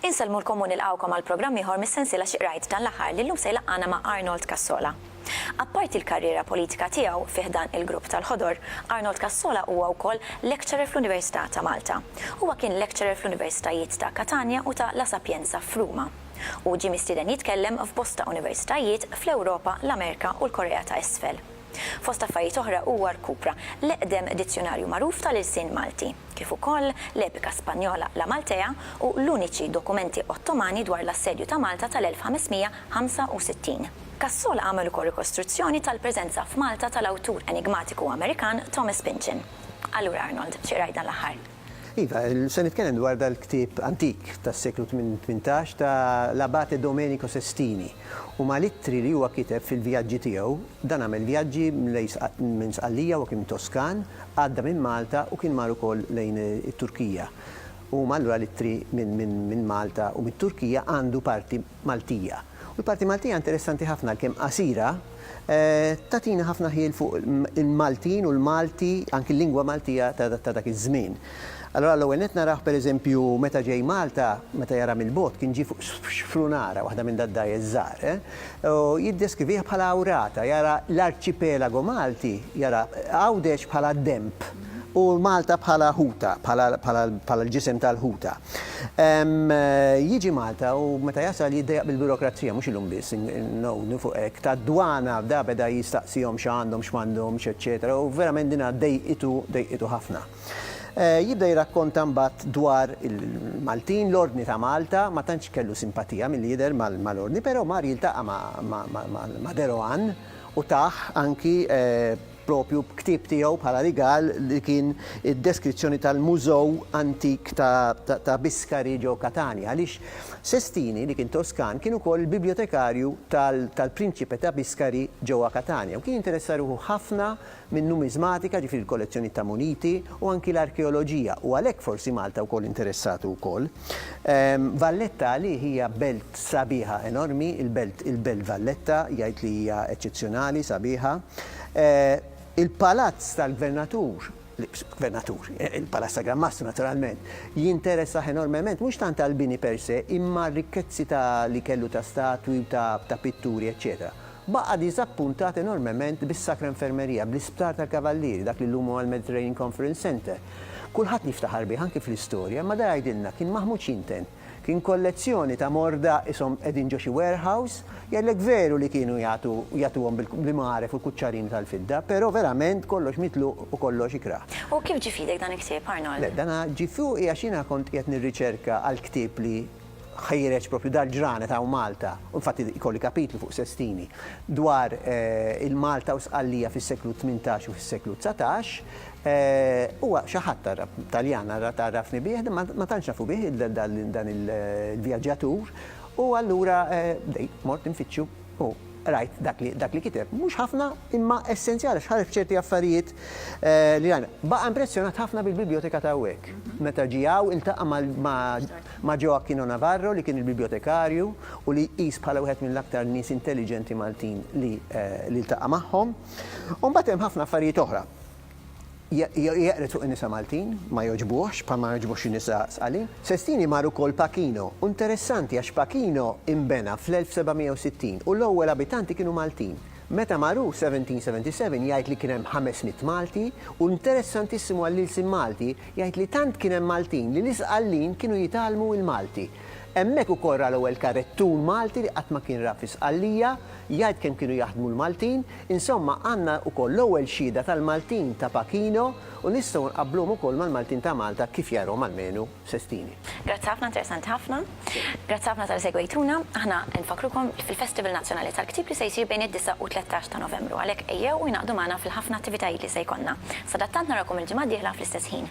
Insellmulkom u nilqgħukom għal programm ieħor mis-sensiela Xi Qrajt dan l-aħħar li llum se jlaqqagħna ma' Arnold Cassola. Apparti l-karriera politika tiegħu fi ħdan il-Grupp tal-Ħodor, Arnold Cassola huwa wkoll lecturer fl-Università ta' Malta. Huwa kien lecturer fl-Universitajiet ta' Katanja u ta' La Sapienza f'Ruma. Hu ġie mistieden jitkellem f'bosta universitajiet fl-Ewropa, l-Amerika u l-Korea ta' Isfel. Fost affarijiet oħra huwa rkupra l-eqdem dizzjunarju magħruf tal-ilsien Malti, kif ukoll l-epika Spanjola La Maltea u l-uniċi dokumenti Ottomani dwar l-assedju ta' Malta tal-1565. Cassol għamel ukoll rikostruzzjoni tal-preżenza f'Malta tal-awtur enigmatiku Amerikan Thomas Pynchon. Allura Arnold, xi qrajt dan l-aħħar? Iva, se nitkellem dwar dal-ktieb antik tas-seklu tmintax ta' l-Abate Domenico Sestini u mal-ittri li huwa kiteb fil-vjaġġi tiegħu. Dan għamel vjaġġi minn Sqallija, huwa kien Toskan, għadda minn Malta u kien mar ukoll lejn it-Turkija. U allura l-ittri minn Malta u mit-Turkija għandu parti. Maltija. U l-parti Maltija interessanti ħafna għalkemm qasira, tagħtina ħafna ħjiel fuq il-Maltin u l-Malti, anki l-lingwa Maltija ta' dak iż-żmien. Allura l-ewwel nett narah pereżempju meta ġej Malta, meta jara mill-bogħod, kien ġie fuq xprunara, waħda minn dad-dgħajjes żgħar, u jiddeskrivih bħala awrata, jara l-arċipelago Malti, jara Għawdex bħala denb u Malta bħala ħuta, bħala l-ġisem tal-ħuta. Jiġi Malta u meta jasal jiddejjaq bil-birokrazija, mhux illum biss, ngħodu fuq hekk, tad-dwana, da beda jistaqsihom x'għandhom, x'm'għandhomx, eċċetera u verament din dejqitu, dejqitu ħafna. Jibda jirrakkonta mbagħad dwar il-Maltin, l-Ordni ta' Malta, ma tantx kellu simpatija milli jidher mal-Ordni, però mar jiltaqa' ma' Deroan u tah anki proprju b'ktieb tiegħu bħala rigal li kien id-deskrizzjoni tal-Mużew Antik ta' Biscari ġo Katania, għaliex Sestini, li kien Toskan, kien ukoll il-bibjotekarju tal-Prinċipe ta' Biscari ġewwa Katania u kien jinteressa ruħu ħafna min-numiżmatika, ġifieri l-kollezzjonijiet ta' muniti, u anki l-arkeoloġija, u għalhekk forsi Malta wkoll interessatu wkoll. Valletta għalih hija belt sabiħa enormi, il-belt il-belt Valletta, jgħid li hija eċċezzjonali, sabiħa. Il-palazz tal-gvernatur, gvernatur, il-palazz ta' Gran Mastru naturalment, jinteressah enormement mhux tant għall-bini per se imma r-rikkezzi ta' li kellu ta' statwi u ta' pitturi eċċetera. Baqa' diżappuntat enormement bis-Sacra Infermeria, bl-Isptar tal-Kavallieri, dak li llum huwa l-Mediterranean Conference Centre. Kulħadd jiftaħar bih, anki fl-istorja, imma da jgħidilna kien maħmud x'jintenn. Kien kollezzjoni ta' morda qishom qegħdin ġo xi warehouse. Jgħidlek veru li kienu jagħtu jagħtuhom bl-imgħaref u l-kuċċarini tal-fidda, però verament kollox mitluq u kollox ikrah. U kif ġie f'idek dan il-ktieb, Arnold? Le, dan ġie fuqi għax jiena kont qiegħed nirriċerka għall-ktieb li. ħejreġ propju dal-ġranet hawn Malta, u infatti jkolli kapitlu fuq Sestini, dwar il-Malta u Sqallija fis-seklu tmintax u fis-seklu dsatax. Huwa xi ħadd għarraf, Taljan għarrafni bih, imma ma tantx nafu bih dan il-vjaġġatur, u allura bdejt mort infittxu u qrajt dak li kiteb. Mhux ħafna, imma essenzjali għax ħareġ ċerti affarijiet li rajna. Baqa' impressjonat ħafna bil-bibljoteka ta' hawnhekk. Meta ġie hawn iltaqa' ma' Ma' Joe Aquino Navarro li kien il-bibjotekarju u li jqis bħala wieħed mill-aktar nies intelliġenti Maltin li li ltaqa' magħhom. U mbagħad hemm ħafna affarijiet oħra. Jeqred fuq in-nisa Maltin, ma jogħġbuhx, bħalma ma jogħġbuhx xi nisa sqali. Sestini mar ukoll Pachino, u interessanti għax Pachino inbena fl-1760 u l-ewwel abitanti kienu Maltin. Meta mar hu, 1777, jgħid li kien hemm ħames mitt Malti, u interessantissimu għall-ilsien Malti, Jgħid li tant kien hemm Maltin li l-Isqallin kienu jitgħallmu il-Malti. Hemmhekk ukoll ra l-ewwel karettun Malti li qatt ma kien ra fi Sqallija, jgħid kemm kienu jaħdmu l-Maltin, insomma għandna ukoll l-ewwel xhieda tal-Maltin ta' Pachino u nistgħu nqabbluhom ukoll mal-Maltin ta' Malta kif jarahom almenu Sestini. Grazzi ħafna, interessanti ħafna. Grazzi ħafna talli segwejtuna. Aħna nfakkrukom fil-Festival Nazzjonali tal-Ktieb li se jsir bejn id-disgħa u t-tlettax ta' Novembru, għalhekk ejjew u ingħaqdu magħna fil-ħafna attivitajiet li se jkollna. Sadattant narawkom il-ġimgħa d-dieħla fl-istess ħin.